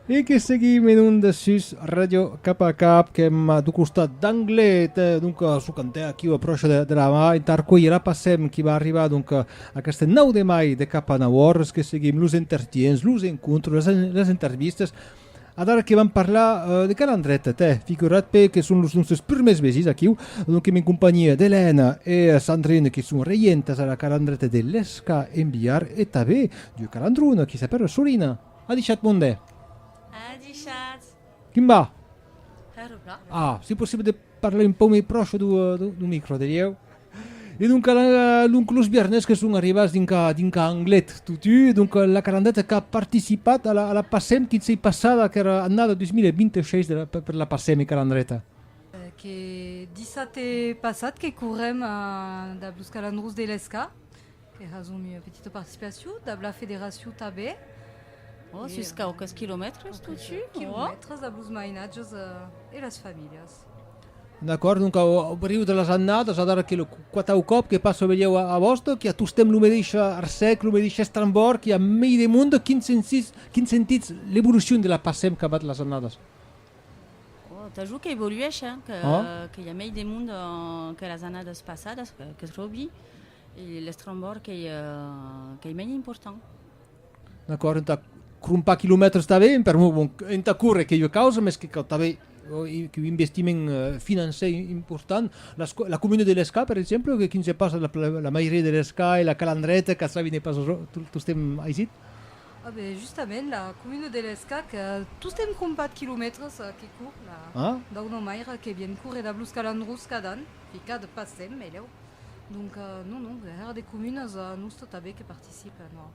E que seguim en onda sus Radio Cap a Cap, que hem du costat d'Anglet, eh, donc eh, su cantè aquí a procha de, de la mà, en tarcuir la passem qui va arribar donc eh, aquest 9 de mai de cap a 9 hores, que seguim los intertients, los encontres, les, les intervistes, Adara que vam parlar uh, de calandret, te, figurat pe que són los nostres primers vesis aquí, donc en compagnia d'Helena e Sandrine qui són reientes a la calandreta de l'Esca Enviar e també du calandron qui s'appelle Solina. A dichat monde. A dichat. Quim va? Hèro plan. Ah, si possible de parlar un pau mei proche du, du, du micro, dirieu. E donc, la, donc los viernes que son arribats dinca, dinca Anglet totu, donc la carandeta qu'a participat a la, a la passem quin sei passada qu'era annada 2026 de la, per, per la passem e calandreta. Que dissate passat que correm a, dab los calandrons de l'ESCA. Que hasum ua petita participacion dab la federacion tanben. Ò, sus quauques quilomètres totjorn, ò? Quilomètres dab los mainatges e las familhas. D'acòrd, donc au briu de las annadas, adara qu'es lo quatau còp que passo velhèu a Bòston, qu'i a tostemp lo medeis arcèc, lo medeis estrambòrd, qu'i a mei de monde, quin sensís, quin sentitz l'evolucion de la passèm qu'abat las annadas? Ò, t'ajut qu'evoluèsh, hein, qu'i a mei de monde que las annadas passadas, qu'eth Robi, E l'estrambòrd qu'ei mei important. D'acòrd, entà crompar quilomètres tanben, per amor bon, entà córrer qu'ei ua causa, mès que cau tanben un investiment finançai important. La comuna de l'Escà, per exemple, que quin se passa la mairia de l'Escà e la Calandreta qu'a sabi ne pas tostemp aisit? A ben, justament, la comuna de l'Escà qu'a tostemp crompat quilomètres que cour la dau nòmaire que vien córrer dab los Calandrós cada an. Ficad pas en melhau. Donc non, non, era de comunas a nosta tabé que participe, non.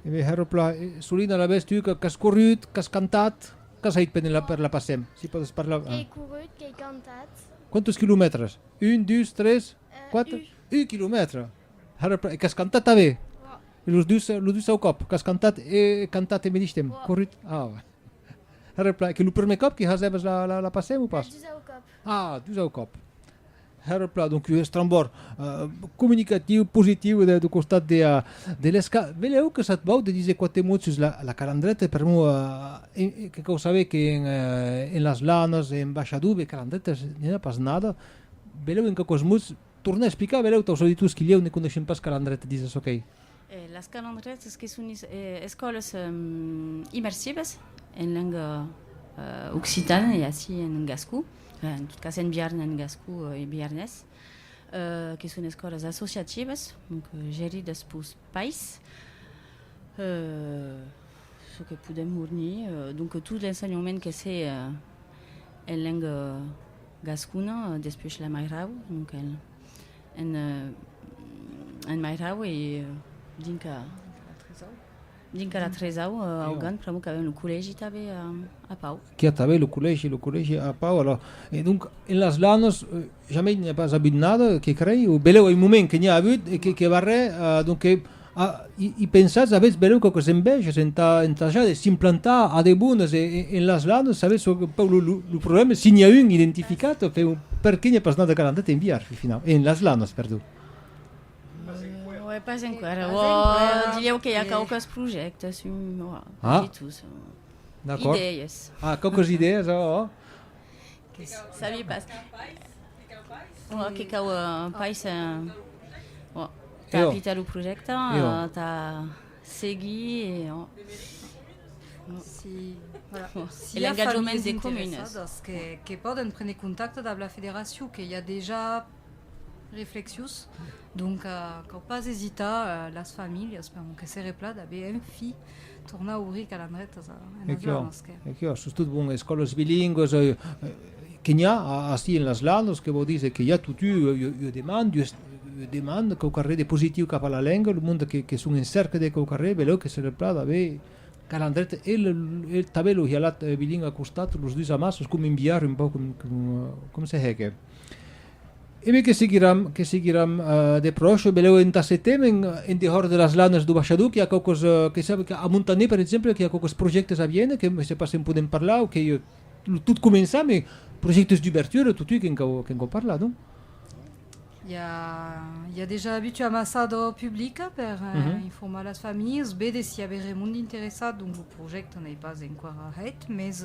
Eme Hèr Pla, e Solina alavetz tu qu'as corrut, qu'as cantat, qu'as hèit per la per la Pasem? Si pòdes parlar. Qu'ei corrut, qu'ei cantat. Quantos quilomètres? Un, dus, tres, quatre? Un quilomètre! Hèr Pla, e qu'as cantat tabé? Los dus, los dus au còp, qu'as cantat e cantat e medish temps? Corrut? Ah! Reply, que lo prumèr còp que hasèbas la passèm o pas? Dus au còp. Ah, dus au còp. Reply, donc estrambòr comunicatiu, positiu de costat de l'ESCA. Velèu que sat vau de díser quate mots sus la calandreta per mo que cau saber que en las lanas, en Baixadube, calandreta n'i a pas nada. Velèu en quauquas mots tornar explicar velèu taus auditors qui lèu ne coneishen pas calandreta dins la sò quèi. Las calendrièrs es que son escòlas immersivas en lenga occitana e ací en gascon, en tot cas en Biarn, en gascon e biarnés, que son escòlas associativas, donc geridas pels pais. Çò que podèm fornir, donc tot l'ensenhament que se en lenga gascona, despuèi la mairau, donc en. En Mairau e dinca la Tresau au Gan, pr'amor qu'avèm lo collègi tanbe a Pau. Qu'i a tanbe lo collègi, lo collègi a Pau, alors. E donc, en las Lanos, jamei n'i a pas avut nada, que crei, o beleu ei un moment que n'i a avut, e que barrè, donc, A, i, i pensatz avètz benlèu quauques envèges entà ensajar de s'implantar a debones e, e, en las lanes, savètz un pauc lo, lo, lo problème, si n'i a un identificat, enfin, o per qué n'i a pas nada qu'an andat enviar, fi, finau, en las lanes, perdon. Uèi, pas enqüèra, Pas uòi, enqüèra, dilhèu que i a que- quauques projèctes, un, uòi, Ah. ditus, uòi, D'acòrd. idèies. Ah, quauques idèas, oh, oh. Que s- sabi pas. Uòi, que cau, eh, pais, eh, uòi. T'as apitat lo projècte, t'as seguit e... Si, voilà. Si a familles interessadas que, que poden prene contacte dab la federacion, que i a dejà reflexius, donc cau pas esitar las familhas per mon que se replat a be un fi. Tornar a obrir calandretas en aciò en los que. Equiò, sos tot bon, escòlas bilingües, que n'i a ací en las Landes, que vò díser que i a totu, ua demanda, ua demanda, quauquarré de positiu cap a la lenga, lo monde que son en cerca de quauquarré, belèu que se replada a aver calandreta e tanben lo hialat bilingüe a costat, los dus amasses, com un bilhard un pauc com se hège. Eme que seguiram, que seguiram de pròche, belèu entà setembre en en dehors de las lanas do baishador qu'i a quauques que sap qu'a Montaner per exemple qu'i a quauques projèctes a viene que me se pas se'n podem parlar o qu'i lo tot començar me projèctes d'ubertura totui que'n cau que'n cau parlar non? I a i a dejà avitu ambasador public per informar las familhas, vede s'i a be remond interessat donc lo projècte n'ei pas enquara hèit mes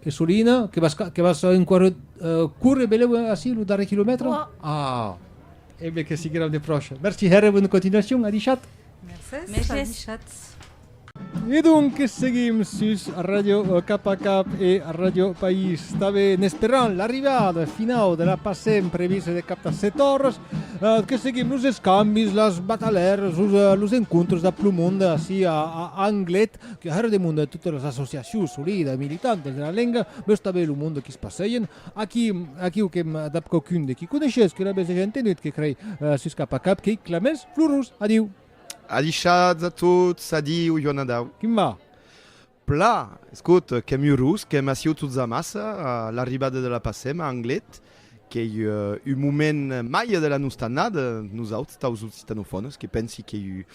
Que solina, que vas que vas enquare córrer beleu ací lo darrèr quilomètre? Ah! Embe que sigueram de pròche. Merci hèr e bona continuacion, adishat! Mercés, adishat! E donc seguim sus Radio Cap a Cap e Radio País Tabe en esperant l'arribada finau de la Pasem prevista de cap a 7 oras que seguim los escambis, las batalhèras, los encontres dab lo monde ací a Anglet Que arrèr de monde totes las associacions solides e militantes de la lenga veu saber lo monde qu'i se passejen. Aquí, aquiu que dab quauqu'un de qu'i coneishes que n'avès dejà entenut que crei sus cap a cap qu'i clamès, Florus, adiu! Adishatz a tots, adiu, Joan Adau! Quim va? Pla! Escot, qu'èm urós, qu'èm aciu tots amassa, a l'arribada de la Passèma, Anglet, Qu'ei un moment mai de la nosta annada, nosauts, taus occitanofònes, que pensi qu'ei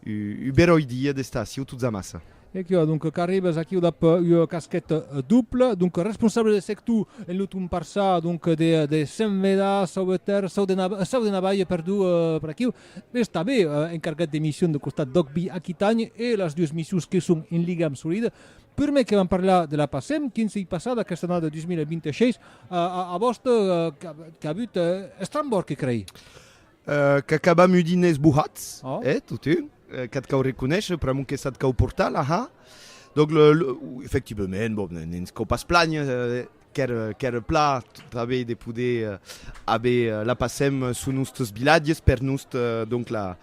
un beròi dia d'estar aciu tots amassa. Equiu, adonc, qu'arribes aquiu dab ua casqueta dubla, donc, responsable de sector en lo ton parçà, donc, de Senveda, sauveter, sau de Navai, sau de Navai, perdó, per aquiu, mès tanben encargat de mission de costat d'Òc Bi Aquitanha e las dues missions que son en ligam solid. Prumèr que vam parlar de la PACEM, quin s'ei passat aquesta annada 2026, A vòste qu'a avut Estrambòrg que crei? Qu'acabam udi nés bohats, eh, totun, qu'ath cau reconéisher, pr'amor que s'ath cau portar la ha. Donc, efectivement, bon, ne'ns cau pas planher, qu'ère pla tanbé de poder haver la pasem sus nostres vilatges, per nost, donc, la,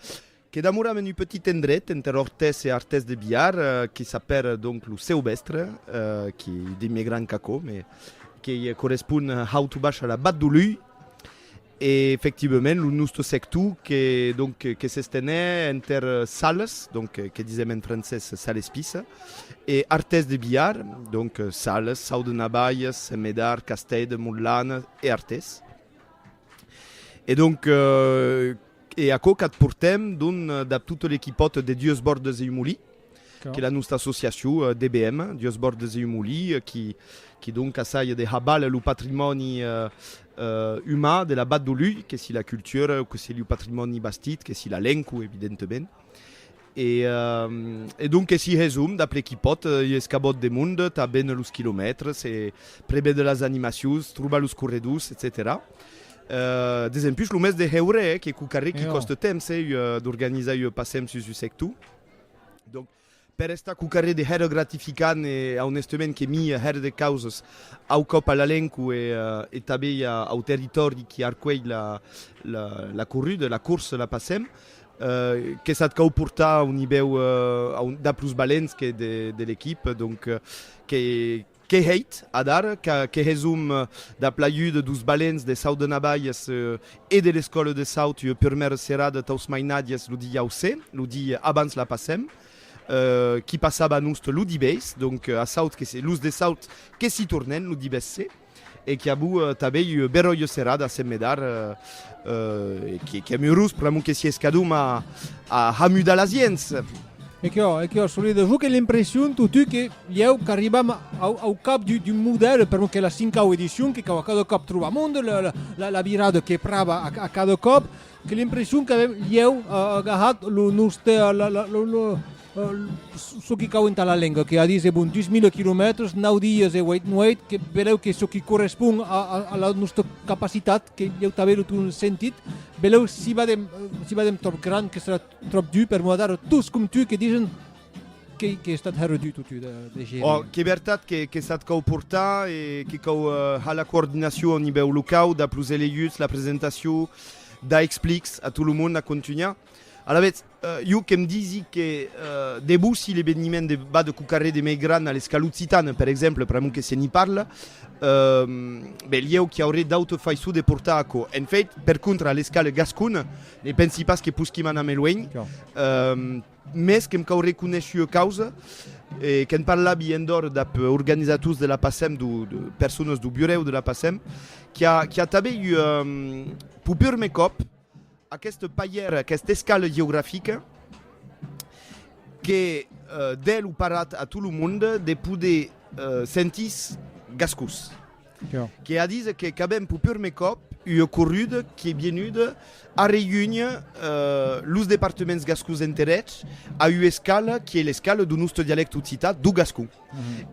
Que damoram en un petit endret enter Ortès e Artès de Biar, que s'apèra donc lo Seubèstre, que ei de miei gran qu'aquò, mes qu'ei correspond haut o baish a la Bat do Lhùi, e efectivament lo nòste sector que donc que s'estenè enter Sales, donc que disèm en francés Salespissa, e Artès de Biar, donc Sales, Saut de Nabalhas, Sent Medard, Castèd, Montlana e Artès. E donc. E aquò qu'ath portem, donc, dab tot l'equipòt de Dues Bordes e un Molí, qu'es la nosta associacion, DBM, Dues Bordes e un Molí, qui, qui donc assaja de habal lo patrimòni uman de la Vat d'Olui, que si la cultura, que si lo patrimòni bastit, que si la lenqua, evidentement. E donques si hèsom dab l'equipòt, ui escabòt de mond, tanben los quilomètres, e prebe de las animacions, trobar los corredors, etcetèra. Desempús lo mès de hèure, eh, que cocarré qui còste temps, eh, ui d'organizar ui passèm sus ui sector. Donc, per estar cocarré de hèr gratificant e aunestament que mi hèr de causes au còp a la lenco e tanben au territòri qui arcuelh la corruda, la corsa, la passèm, Que s'at cau portar a un nivèu dab los balents que de l'equipe donc que hèit adar que hèsom dab l'ajuda dos balents de Saut de Navalles e de l'escòla de Saut ua purmèra serada taus mainatges lo diausse lo di abans la passèm qui passava a nost lo dibeis donc a Saut que los de Saut que s'i tornèn lo dibeisse. e qui abu tabei ua beròia serada sen me dar, e qui qui amurós pr'amor que sies cadum a a hamudar las ients. E quò, e quò, Solido, jo que l'impression totú que ieu qu'arribam au au cap du du modèle pr'amor que la cincau edicion que cau a cada còp trobamond la la la la virada que prava a a cada còp, Que l'impression qu'avèm ieu agarrat lo nòste, çò que cau entà la lenga, que a dís e bon 2000 quilomètres, nau dies e uèit nuèit, que belèu que çò qui correspond a la nòsta capacitat, que ieu tanben lo ton sentit, belèu si badem, si badem tròp grand, que serà tròp dur per moadar, tos com tu que dixen, Qu'ei que estat hèr du totu de gèri? Ò, qu'ei vertat que que sat cau portar e que cau har la coordinacion au nivèu locau dab los eleguts, la presentacion da explics a tot lo mond a contunhar. Alavetz, jo que'm disi que de bò si l'eveniment de va de quauquarré de mei gran a l'escala occitana, per exemple, pr'amor que se n'i parla, ben ieu qu'i auré d'auta faiçon de portar aquò. En fait, per contra, a l'escala gascona, ne pensi pas que posquim anar mei luenh. Mès que'm cau reconéisher ua causa, e que'n parlavi endhòrt dab organizators de la PASEM, de persones dau burèu de la PASEM, qu'i a, qu'i a tanben ua, pau purme còp, aquesta paièra, aquesta escala geografica, que dèi lo parat a tot lo monde de poder sentir-se gascós. Que a díser que qu'avèm pur purmè còp ua corruda qu'ei vienuda arreúnher los departements gascons enter eths a ua escala qu'ei l'escala dau nòste dialècte occitan, dau gascon.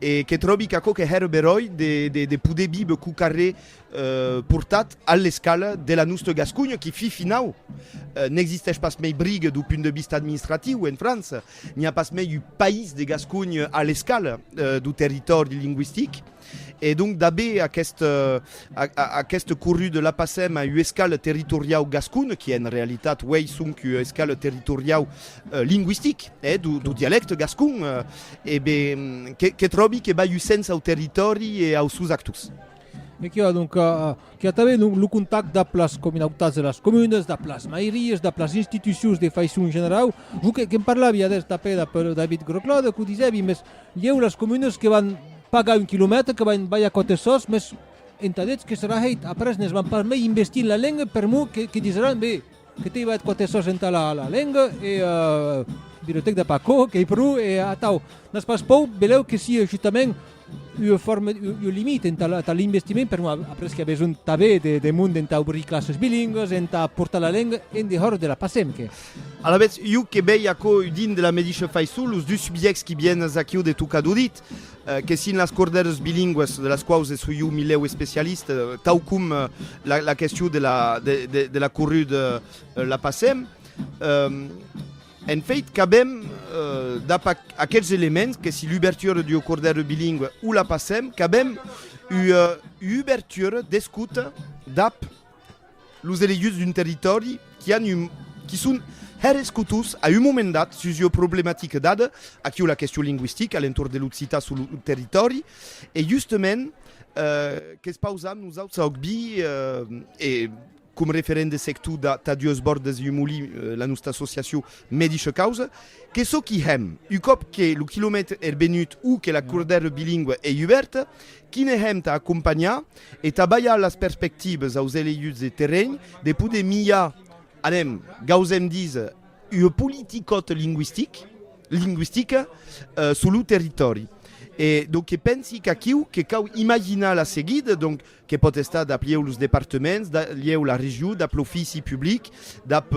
E que tròbi qu'aquò que hèra beròi de poder viver cau qu'arrè portat a l'escala de la nòsta Gasconha, qui fin finau n'existèsh pas mei briga dau punt de vista administratiu en França, n'i a pas mei un país de Gasconha a l'escala dau territòri lingüistic. E donc dabé aquest aquest corrut de la passèm a ua escala territoriau gascon qui en realitat uei sonc ua escala territoriau lingüistic eh do do dialècte gascon e be que que tròbi que bai un sens au territòri e aus sous actors. E qu'i a donc qu'i a tanben donc lo contact dab las cominautats de las comunes, dab las mairies, dab las institucions de faiçon generau. Jo que'm parlavi adés tanpè dab David Groclaude qu'o disèvi, mès Ieu las comunes que van pagar un quilomètre, que van balhar quate sòs, mès entà detz que serà hèit, après ne's van pas mei investir en la lenga per mor que, que disràn, be, que t'ei balhat quate sòs entà la, la lenga, e euh, bilhotèc de Paco, qu'ei pro, e atau, n'as pas pòu, belèu que sia justament ua forma, ua limita entà, entà l'investiment per mor, après qu'i a besonh tanbé de, de monde entà obrir classes bilingues, entà portar la lenga en dehòr de la PACEM, que. Alavetz, iu que vei aquò udint de la medisha faiçon, los dus subjècts qui vienes aquiu de tocar d'udit, que sin las cordèrs bilingües, de las quaus soi iu milèu especialista, tau com la question de la corrud la passem, en feit, qu'avem, dab aqueths elements, que si l'ubertura d'ua cordèra bilingüe o la passem, qu'avem ua ubertura d'escota dab. Los eleguts d'un territòri qui an un qui son hèr escutus a un moment dat sus ua problematica dada, aquí o la question lingüistica a l'entorn de l'occitan sus lo territòri, e justement que's pausam nosauts a Ogbi e com referent de sector da tà dues bòrdes un molin la nosta associacion medicha causa, que çò qui hèm, un còp que lo quilomètre hèr benut o que la cordèra bilingua ei ubèrta, Quine hèm tà acompanhar e tà balhar las perspectives aus eleguts de terrenh de poder milhar, anem, gausèm díser, ua politicòt lingüistic, lingüistica, suu lo territòri. E donc que pensi qu'aquiu que cau imaginar la seguida, donc, que pòt estar dab lhèu los departements, dab lhèu la regiu, dab l'ofici public, dab,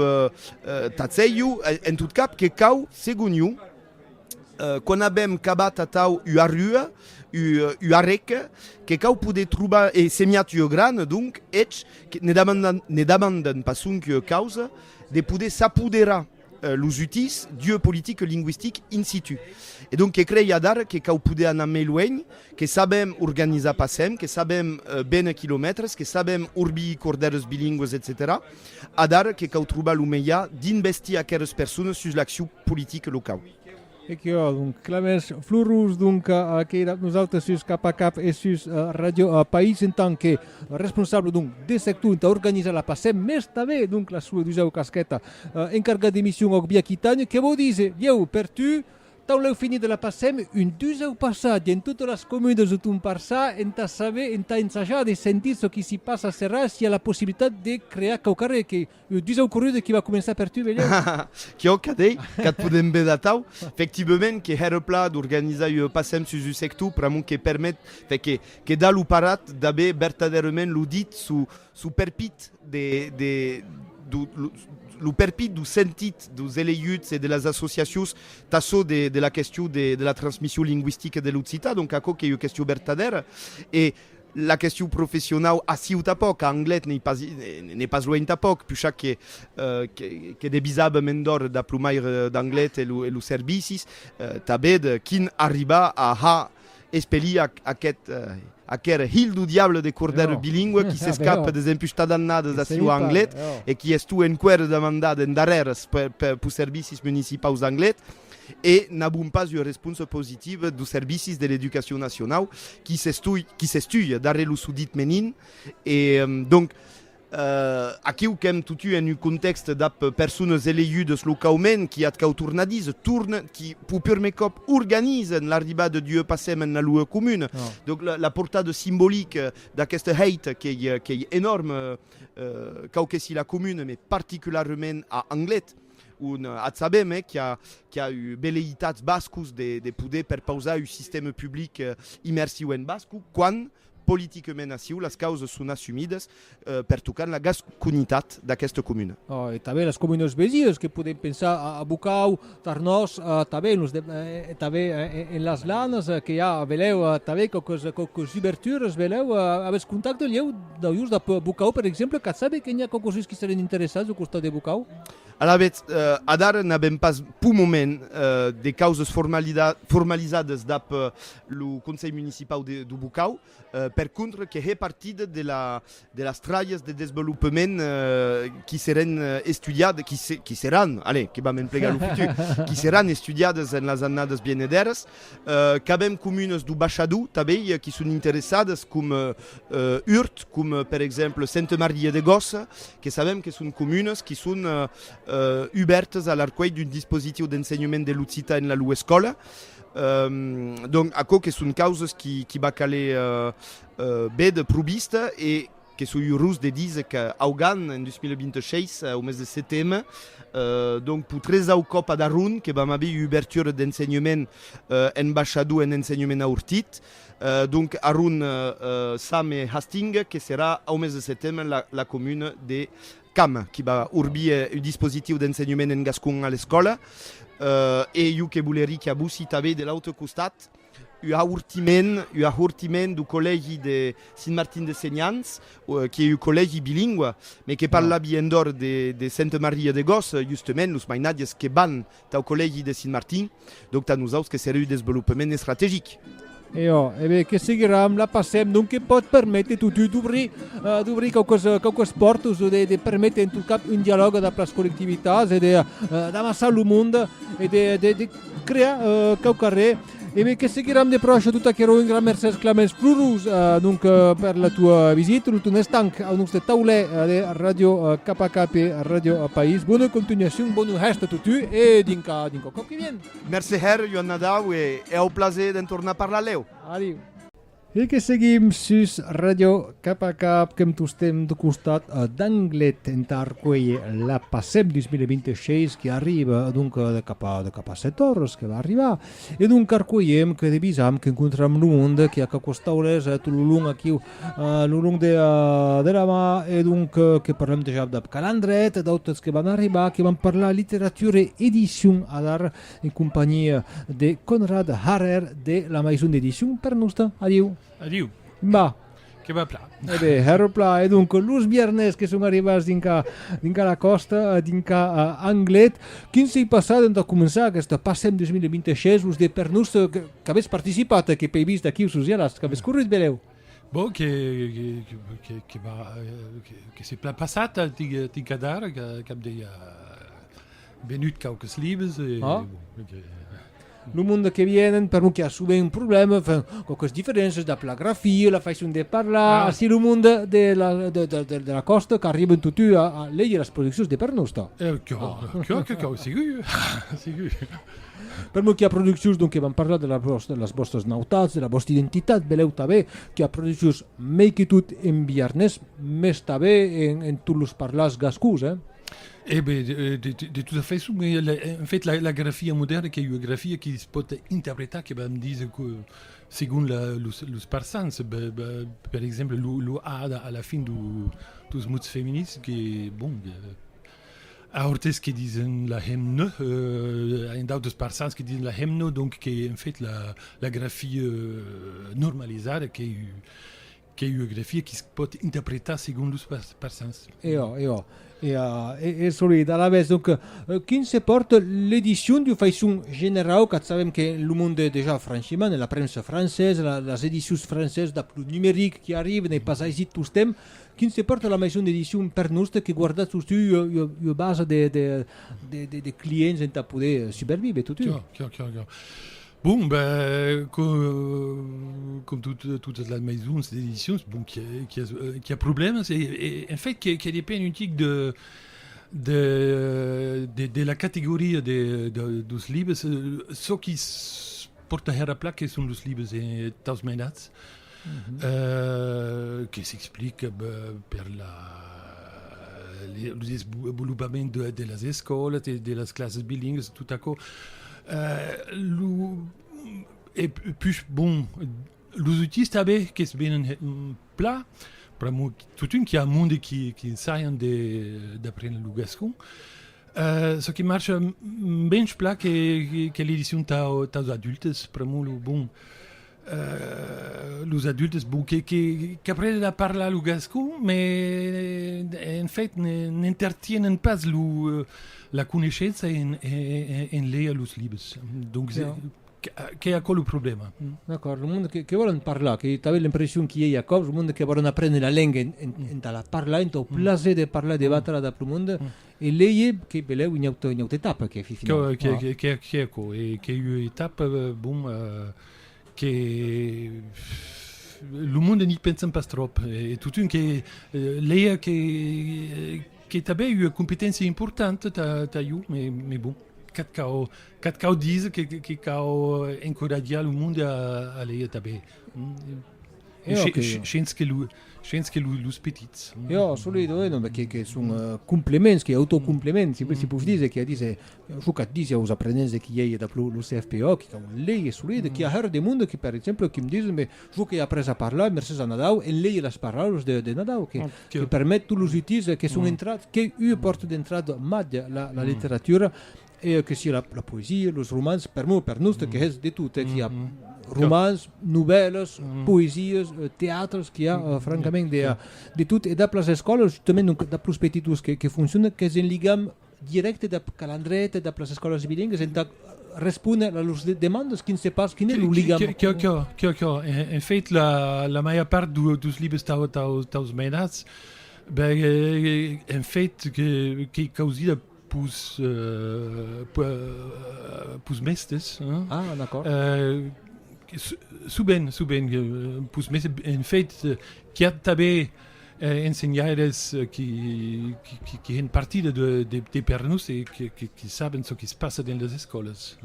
tà cèiu, en tot cap, que cau, segon iu, Quan avèm cabat atau ua rua, ua rèca, que cau poder trobar e semiat ua grana, donc, eths, ne demandan pas sonque causa de poder s'apoderar los utís d'ua politica lingüistica in situ. E donc que crei adara que cau poder anar mei luenh, que sabem organizar passem, que sabem béner quilomètres, que sabem orbir cordèrs bilingües, etcetèra. Adar que cau trobar lo meja dins vestir aqueres persones sus l'accion politic locau. E que jo donc clamens Florus donc a aquera nosautres sus cap a cap e sus Radio País en tant que responsable donc de sector entà organizar la PASEM mes tanben donc la sua dusau casqueta encargat de mission òc Bia Quitània que vau dise ieu per tu Tau lèu finit de la passèm un dusau passatge en totes las comunes o ton parçà entà saber, entà ensajar de sentir çò qui s'i passa a Serralh s'i a la possibilitat de crear quauquarre que lo dusau corrude qui va començar per tu velhèu. Quio cadei qu'ath podem ver d'atau, efectivement que hèr eth plan d'organizar ua passèm sus un sector pr'amont que permet, fe que quedar lo parat d'aver vertadèrement lo dit suu Su perpit de, de, du, lo, lo perpit du sentit deus eleguts e de las associacions tà çò de, de la question de, de la transmission lingüistica de l'occitan, donc aquò qu'ei ua question vertadèra, e la question professionau aciu tà pòc, a Anglet n'ei pas, n'ei pas luenh tà pòc, pushak que, que, que debisab a mèn d'òr d'aplomaire d'Anglet e, e los servicis, tà bèd quin arribar a ha Espeliac, aqueth, aquer hilh du diable de cordèr bilingüe qui s'escape des empustadannadas d'aciu a Anglet e qui estue enqüèr demandat en darrères pus servicis municipaus d'Anglet e n'avon pas ua responsa positiva dus servicis de l'Educacion Nacionau qui s'estue darrèr lo sudit menin e donc Aquiu qu'èm totun en un contèxt dab persones elegudes locaument qui ath cau tornadís, torn, qui pur prumèr còp organizen l'arribada d'ua passèm ena lua comuna. Donc la portada simbolique d'aqueste hèit qu'ei enòrme quauque si la comune mais particularement a Anglet on ac sabem eh qu'a ua velèitats bascos de poder perpausar un sistème public immersiu en basco quan Politiquement aciu las causas son assumidas pertocant la gasconitat d'aquesta comuna. E tanben las comunas vesinas que podem pensar a Bocau, Tarnòs, tanben los e tanben en las Lanas que i a velèu tanben quauques quauques ubertures velèu avètz contacte lhèu dau jos de Bocau per exemple cat sabe que n'i a quauques uns qui serien interessats au costat de Bocau? Alavetz, adara n'avèm pas pau moment de causas formalizadas dab lo Conselh Municipau de Bocau, per contra, que hè partit de las tralhas de desvolopament qui serén estudiadas, qui serán, allez, que vam emplegar lo futur, qui serán estudiadas en las annadas vienedèras. Qu'avèm comunas do Bachadou, tanbèi, qui son interessadas, com Urt, com per exemple Sente Maria de Gossa, que sabèm que son comunas qui son ubèrtas a l'arcuelh d'un dispositiu d'ensenhament de l'occitan en la lou escòla. Donc aquò que son causes qui va caler bèth pro vista e que soi urós de díser que Augan en 2026 au mes de seteme donc pro tresau còp ad Aron que vam aver ua ubertura d'ensenhement en baishador en ensenhement aurtit donc Aron, Same e Hastings que serà au mes de seteme la comuna de Cam, qui va urbir un dispositiu d'ensenhement en gascon a l'escòla, e jo que volerí qu'a vossi tanben de l'autre costat un ahortiment, un ahortiment du collègi de Sint Martin de Senhans, qui ei un collègi bilingua, me que parlavi endor de Sainte Maria de Gòs, justement los mainatges que van Tau collègi de Sint Martin, donc tà nosaus que seré ua desvolopement estrategic. E ò, e ben, que seguiram, la passem, donc que pòt perméter totun d'obrir, d'obrir quauques, quauques pòrtas o de, de perméter en tot cap un dialòg dab las collectivitats e de, d'amassar lo monde e de, de, de crear quauquarré. E ben que seguiram de pròche tot aquerò, un gran mercés Clemens Flurus donc per la tua visita, lo ton estanc au nos de taulè de Radio KPAK e Radio País. Bona continuacion, bonu hèst a totu e dinca dinca au còp que vien. Mercé hèr, Joan Nadau e au plaser d'en tornar parlar lèu. Adiu. E que seguim sus Radio Cap a Cap que'm tostem de costat d'Anglet entà arcuélher la PASEP 2026 qui arriba donc de cap a, de cap a 7 òras que va arribar. E donc arcuélhem que devisam qu'encontram lo monde qui a quauquas taules tot lo long aquiu, lo long de, de la mar e donc que parlem dejà dab Calandret e d'autres que van arribar qui van parlar littérature e édition adar en companhia de Conrad Harrer de la maison d'édition Pernosta. Adiu! Adiu! Mba! Que va pla. E bé, herro pla. E donc, los biarnés que son arribats dinca, dinca la còsta, eh, dinca uh, eh, Anglet, quin s'ei passat entà començar aquesta Passem 2026, los de Pernosta que, que avètz participat, que pei vist aquí sus Ialast, que avètz corrut, beleu? Bon, que, que, que, que, va, que, que se pla passat, tinc, tinc a dar, cap de... Venut quauques libres e... Ah. Lo monde que vienen, per non que a sovent un problème, enfin, quauques diferéncias dab la grafia, la façon de parlar, ah. así lo monde de la, de, de, de, de la costa qu'arriben totu a, a leir las produccions de per nosta. Eh, que, ah. que, que, que, sigur, sigur. Per molt que a produccions, donc, que van parlar de, la vostra, de les vostres nautats, de la vostra identitat, veleu també que a produccions mei que tot en biarnès, més també en, en tots los parlars gascús, eh? E ben, de tota façon, en fait, la grafia modèrna qu'ei ua grafia que se pòt interpretar, que vam díser, segon los parçans. Per exemple, lo a a la fin dos mots femenins que, bon, a Orthez que disen la hemne, a un d'autres parçans que disen la hemno, donc qu'ei en fait la grafia normalizada qu'ei Qu'ei ua grafia qui se pòt interpretar segon los persans. E ò, e ò. E a e solid. Alavetz, donc, quin se pòrt l'edicion d'ua faiçon generau, qu'a sabèm que lo monde es dejà franchiment, e la premsa francesa, las edicions francesas dab lo numeric qui arribe, n'ei pas aisit tostemp, quin se pòrt la maison d'édition per noste que guardatz totun ua ua basa de de de de clients entà poder suberviver totun? Chiò, chiò, chiò, chiò. Bon, ben, com, com tot, totes las maisons d'edicions, bon, qui a, qui a, qui a problemas, e, e en fait, que, que depend un tic de, de, de, de la categoria de, de, dos libres, çò qui pòrta hèra plac que son los libres eh, tausmenats, que s'explique per lo desvolopament de las escòlas, de las classes bilingues, tot aquò. Lo e pus bon, los autís tanben que's venen plan, pr'amor totun qu'i a un monde qui ensaian d'aprendre lo gascon. Çò qui marcha mens plan que l'edicion taus adultes, pr'amor lo bon, Los adultes, bon, que, que, qu'aprenen a parlar lo gascon, me, en fait, n'entertienen pas lo, la coneishença en, en leir los libres. Donc, qu'ei aquò lo problèma. D'acòrd, lo monde que, que vòlen parlar, qu'ei tanben l'impression qu'i ei aquò, lo monde que vòlen aprene la lenga en, en, entà la parlar, entau plaser de parlar, de batre-la dab lo monde, e leir, que belèu, ua auta, ua auta etapa, qu'ei, finau. Qu'ei, qu'ei, qu'ei aquò, e qu'ei ua etapa, bon, que lo monde n'i pensen pas tròp e totun que lèia que que tanben ua competéncia importanta tà jo me bon que'c cau que'c cau díser que cau encoratjar lo monde a lèia tanben shens que lo shens que los petits jo assolidament que que son complements que autocomplements si pòs díser que a díser Çò qu'a disi aus aprenents de qui ei dab lo CFPO, qui qu'au un lei e solid, e qui a hèr de monde qui, per exemple, qui me dison, me, jo qu'ei après a parlar, mercés a Nadau, en lei las paraules de, de Nadau, que, que permet tous los utils que son entrats, qu'ei ua pòrta d'entrada mad la, la literatura, e que sia la, la poesia, los romans, per mo, per noste, que hèz de tot, qui a romans, novèlas, poesias, teatres, qui a, francament, de, de tot, e dab las escòlas, justament, donc, dab los petitos que, que fonciona, qu'es en ligam, dirècte dab calandret, dab las escòlas bilingues, entà respóner a lors demandas, quin se pas, quin es lo ligam? Qué, qué, qué, qué, qué, en fait la la màger part dos libres tau, tau, taus menats, ben en fait qu'ei causida pus pus mèstes, hein? Ah, d'accord. Subent, subent, pus mèstes, en fait qu'i a tanben, Ensenhaires qui hèn partida de per nos e qui saben çò quis passa dens las escòlas.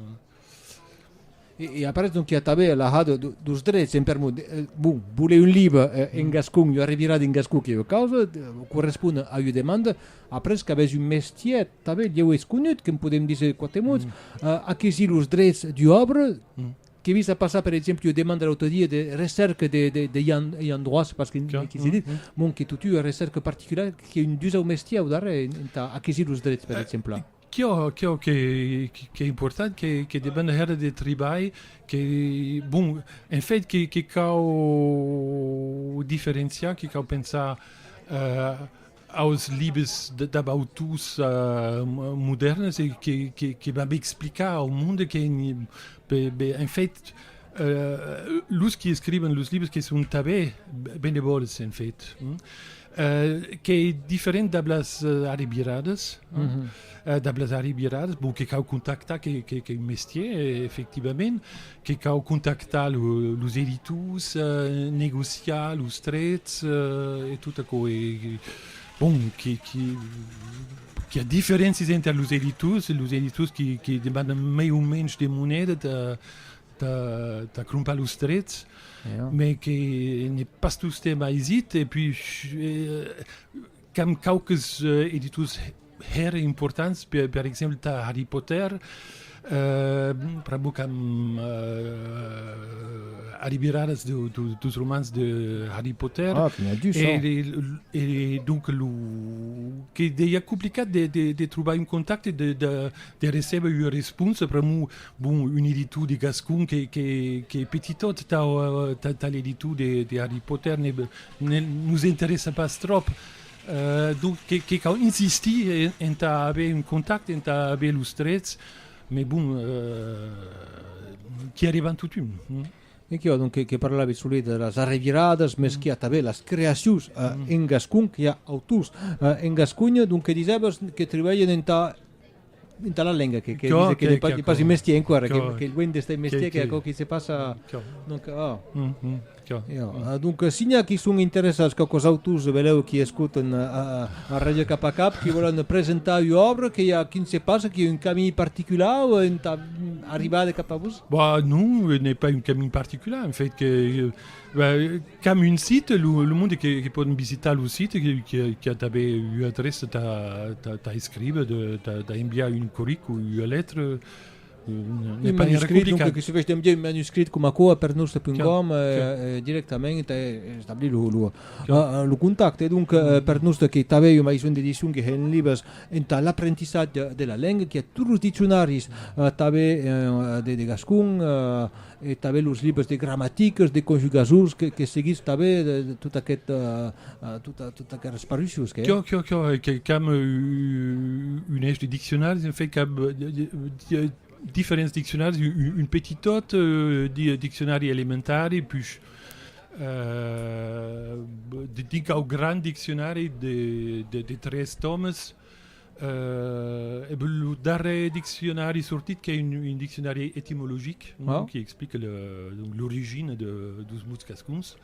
E après donc quia tanben la ha dos drets en per mot. Bon, voler un libre en gascon, ua revirada en gascon que ua causa, correspon a ua demanda. Après qu'avètz un mestièr tanben, ieu es conut, que'n podem díser quate mots. Aquesi los drets d'ua òbra Qu'ai vist a passar, per exemple, ua demanda l'autre dia de recèrca de, de, de Ian, Ian Droits, parce que Clar. n'ai quisé dit, mon que tot ua recèrca particulara que un dus au mestier au darrèr, en- entà aquesir los drets, per exemple. Quò, quò que, que, qu'es important, que, que depend hèra de tribalh, que, bon, en fait, que, que cau diferenciar, que cau pensar, eh, aus libes dab autors modèrnes e que b'ab explicar au monde que en fait los qui escriben los libres que son tanben benevòls en fait qu'ei diferent dab las arribiradas dab las arribiradas bon que cau contactar qu'ei un mestier efectivament Que cau contactar los editors, negociar los trets e tot aquò. E, bon, que, que, qu'i a diferéncias enter los editors, los editors que, que demandan mai o menys de moneda tà, tà, tà crompar los trets, me que n'es pas tostemps aisit, e puis, qu'amb quauques editors, hèr importants per per exemple tà Harry Potter pr'ac bò qu'an arribiradas deus romans de Harry Potter e donc lo que deia complicat de trobar un contacte de recèber ua responsa pr'amor bon un editor de gascon qu'ei petitot tà l'editor de Harry Potter nos interessa pas tròp Donc que cau insistir entà aver un contacte, entà aver los trets, mai bon, qu'i arrivan totun. Enquiò, donc, que parlavi solet de las arreviradas, mès qu'i a tanben las creacions en gascon, qu'i a autors en gascon, donc que disèvas que tribalhen entà Dintà la lenga que que dise que que pas un mestier enquara que que luènh d'estar un mestier que aquò qui se passa donc oh donc signa qui son interessats que cos autors velèu qui escoten a ràdio cap a cap qui vòlen presentar ua òbra que i a quin se passa qui a un camí particular o entà arribar de cap a vos bah non n'ai pas un camí particular en fait que Qu'am un site, lo monde que pòdon visitar lo site, qui a tanben ua adreça tà escriver, tà enviar un corric o ua letra, n'es pas gaire complicat. Que sufesh d'enviar un manuscrit com aquò a pernusda.com directament e establir lo contacte. Donc, pernusda que tanben ua maison d'édition que hèn libres entà l'aprentissatge de la lenga, qui a tots los diccionaris tanben de gascon, e tanben los libres de gramaticas, de conjugasons, que, que seguís tanben de, de tot aquest, uh, tot, tot aquest esparuixos que... Cor, cor, cor, que cam un eix de diccionaris, en fait, cam diferents diccionaris, un, un petit tot, uh, diccionari elementari, puis uh, de, de, de grand diccionari de, de, de tres tomes, Euh, eb lo darrèr diccionari sortit qu'es un, un diccionari etimologic non? Ah. qui explique l'origina de, dos mots cascuns.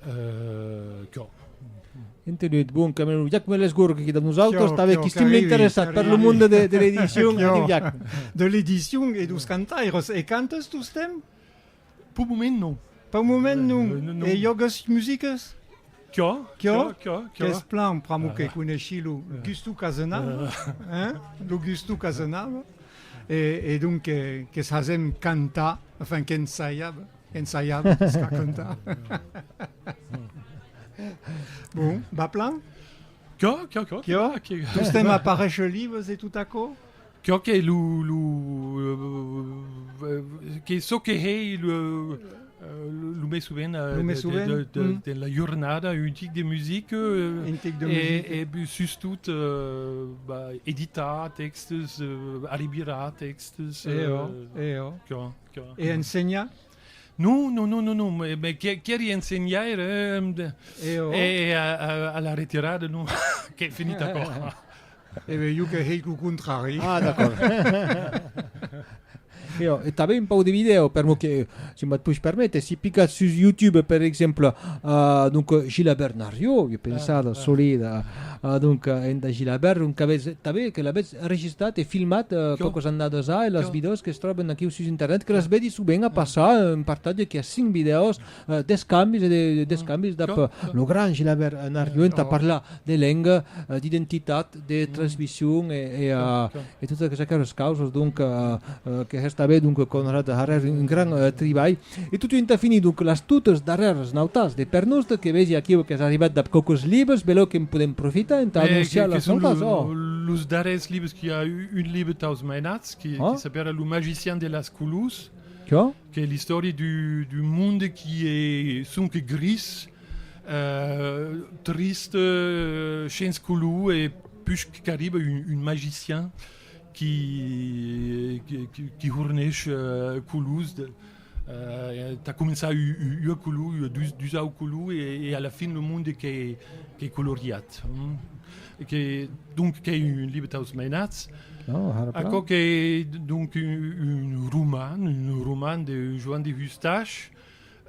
Euh, que... Entenut, bon, Camerun. Jac Melesgourg, qui dab nosaltres, que, avec qui estim interessat per lo monde de, de l'edition. de l'edition e dos cantaires. E cantes tostemps? Pau moment non. Pau moment non. E jògues musicas? Quò, quò, quò. Qu'es plan pr'amor que coneshi lo gusto qu'a senava, hein? Lo gusto qu'a senava. E, e donc que, que s'asem cantar, enfin qu'ensaiava, ensaiava s'a cantar. Bon, va plan? Quò, quò, quò. Quò, que. Tostemps aparèisher libres e tot aquò? Çò que lo lo que çò que hèi lo lo mai sovent de la jornada un tic de music e sustot editar tèxtes alibirar tèxtes e ensenhar? Non non non non qu'èri ensenhaire e a la retirada non qu'ei finit aquò E ben jo que hèic lo contrari. Ah, d'acòrd. Io, e tanben un pauc de vidèo, per mo que, si me push permèter, si picatz sus YouTube, per exemple, uh, donc, Gilabèrt Narrió, jo pensar, ah, ah. solid, uh, donc, enda Gilabèrt, donc, avètz, tanben, que l'avètz enregistrat e filmat uh, quauques annadas a, e las vidèos que es tròben aquiu sus internet, que las vedi subent a passar, un partatge que a cinc vidèos, D'escambis e d'escambis dab lo grand Gilabèrt Narrió entà parlar de lenga, d'identitat, de transmission e totas aqueras causas donc que hèstabe donc Conrad Harrer un grand tribalh. E totun entà finir donc las totas darrèras nautas de pèr nòste que vegi aquiu qu'es arribat dab quauques libres, belèu que en podèm profitar entà anonciar las nautas, ò! Los darrèrs libres qu'i a un libre taus mainats que s'apèra Lo magician de las Colús, Qu'es l'istòria d'un monde qui es sonque gris, triste, shens color e puish qu'arriba un magicien qui qui horneish colors tà començar ua color, dus auts colors e a la fin lo monde qu'es coloriat. que donc qu'ei un libre taus mainats aquò qu'ei donc un roman un roman de Joan de Hustache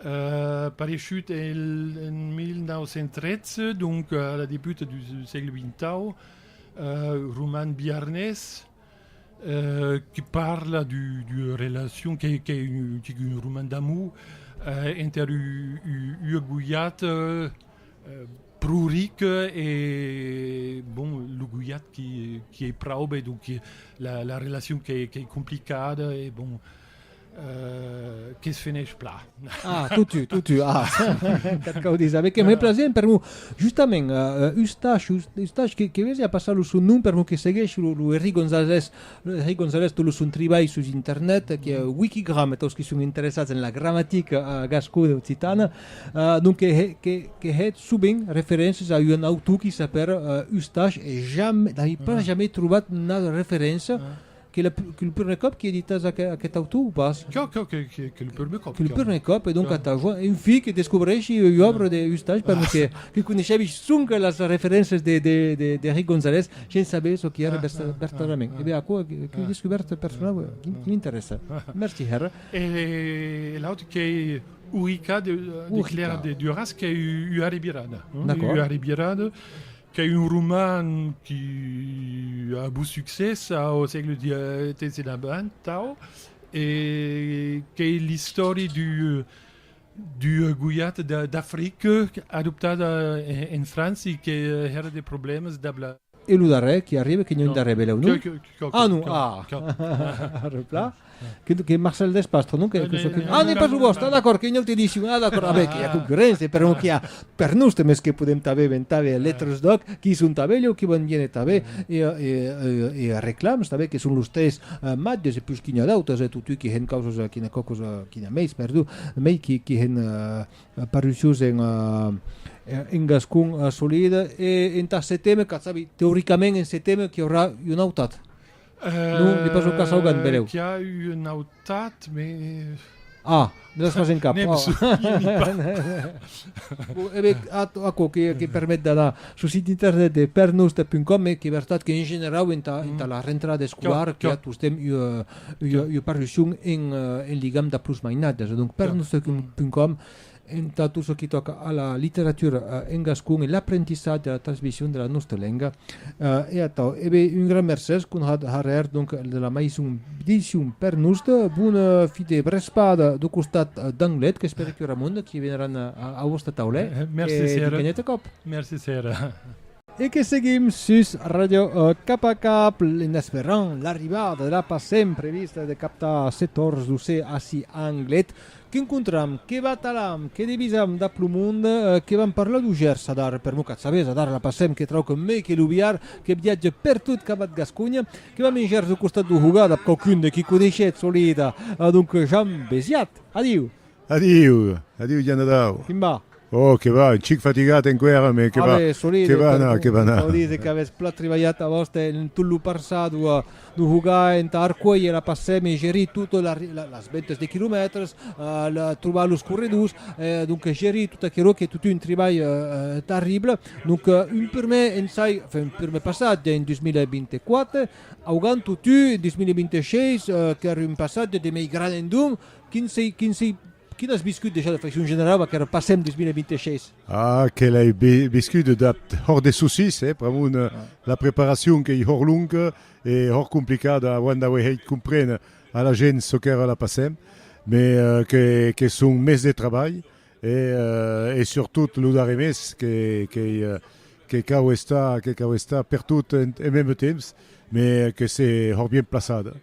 euh, pareishut en 1913 donc a la debuta du sègle vintau euh, roman biarnés euh, que parla du, du relacion qu'ei que un, un roman d'amour euh, enter ua boiat euh, Pruric e bon lo guiat qui qui ei praube e donc la la relacion qu'ei qu'ei complicada e bon euh que's fenèish pla. Ah, totu, totu, ah, qu'ath cau díser. Be que me plasé en permou. Justament, euh, Ustash, Us, Ustash, que, que vesi a passar lo son nom permou que segueish lo, lo Henri Gonzalez, lo Henri Gonzalez, tot lo son tribalh sus internet, que, Wikigram, taus qui son interessats en la gramatica gascona occitana, Donc que he, que, que hèt sovent referéncias a un autor qui s'apèra uh, Ustash, e jamais, n'ai pas ah. jamais trobat una referéncia ah. que, la, que le premier cop qui editas aqu, aquest autor ou pas? Que, que, que, que, que le premier cop. Que le premier cop, et donc ah. à ta joie, un fill que descobreixi une obra de Ustash, ah. parce que, que coneixevi sonque las referéncias de, de, de, de Rick Gonzalez, sense saber ce qui era vertadament. Ah. Eh bien, aquò, que, que descouverte personnelle, qui m'intéresse. Merci, Herr. Et l'autre qui Urica de Claire de Duras qu'es ua revirada, ua revirada qu'es un roman qui a avut succès au sègle XVII e davant, tau, e qu'es l'istòri d'ua goiat d'Africa adoptada en França e qu'èra de problèmas dab la E lo darrèr qui arribe, que non darrèr belèu, non? Ah non, ah! Repla. Que Marcel Despastre, non? Ah, n'es pas lo vòste, ah d'acòrd, qu'ei una auta edicion, ah d'acòrd, abe, qu'i a concurréncia, per non qu'i a per nos tanben es que podem tanben ben tanben letres d'òc, qui son tanben lheu qui van viene tanben e reclams tanben que son los tres matges e pus qu'i n'a d'autres, totui qu'i hèn causas, qu'i n'a quauquas, qu'i n'a meis, perdon, mei qu'i hèn Paruciós en gascon solid e entà setembre, qu'a sabi, teoricament en setembre qu'i aurà un autat. Non, ne pas lo cas augant, benlèu. Qu'i a un autat, mais... Ah, ne l'as pas en cap. Ne me souveni pas. Bon, e ben, aquò que permet d'anar sul sit internet de pernosta.com, e qu'es vertat qu'en generau entà la rentrada escolara qu'i a tostemps ua... ua parlucion en ligam dab los mainadas. Donc, per nostrepunt.com, entà tot çò qui tòca a la literatura en gascon e l'aprentissatge e la transmission de la nostra lenga, e atau. E ben, un gran mercés, Conrad Harrer, donc, de la maison d'édition Per Nost. Bon fi de vrespada dau costat d'Anglet, qu'espere que Ramon, qui veneran a vòsta taula, e vinc un autre còp. Merci, Sera. E que seguim sus Radio Cap a Cap en esperant l'arribada de la passent prevista de captar se torzdusè ací a Anglet, que encontram, que batalam, que devisam dab lo monde, que vam per la Dugers adar per Mucat Sabés, adar la passem que trauc mei que lo biar, que viatge per tot Cabat Gasconha, que vam en Gers au costat do Hogar dab quauqu'un de qui coneishetz Olida, donc Jean Besiat. Adiu! Adiu! Adiu, Janadau! Quin va? Oh, que va, un chic fatigat enqüèra, me que va, que va anar, que va anar. Solide, qu'avètz plan tribalhat a vòste en tot lo passat, ua de jogar entà arcuélher la passèm e gerir totes las ventas de quilomètres, trobar los corredors, donc gerir tot aquerò qu'es totun un tribalh terrible. Donc un prumèr ensai, enfin un prumèr passatge en 2024, augant totun en 2026 qu'ère un passatge de mei gran endonc, Quin sei, quin sei, quin as viscut dejà de facion generala va qu'èra passem 2026? Ah, que l'ai viscut d'ath hòr de sossís, eh, pr'amor de la preparacion qu'ei hòr longa e hòr complicada auant d'auer hèit compréner a la gent çò qu'èra la passem, mais que qu'es son mes de trabalh e e surtot lo darrer mes que qu'ei que cau estar que cau estar pertot en meme temps, mais que se hòr bien plaçada.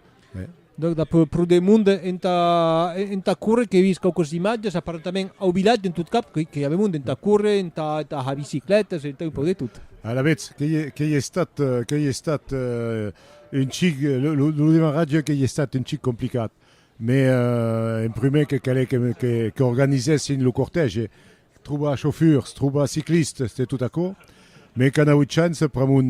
Donc dab pro de monde entà entà córrer qu'ei vist quauques imatges aparentament au vilatge en tot cap que que avèmon entà córrer entà entà ha biciclètas entà un pauc de tot. Alavetz qu'ei qu'ei estat qu'ei estat un chic lo lo lo demarratge qu'ei estat un chic complicat mais en prumèr que calèt que que qu'organizèssin lo cortège Trobar chauffurs, trobar ciclistes, se tot aquò. Me qu'an auut chance pr'amont,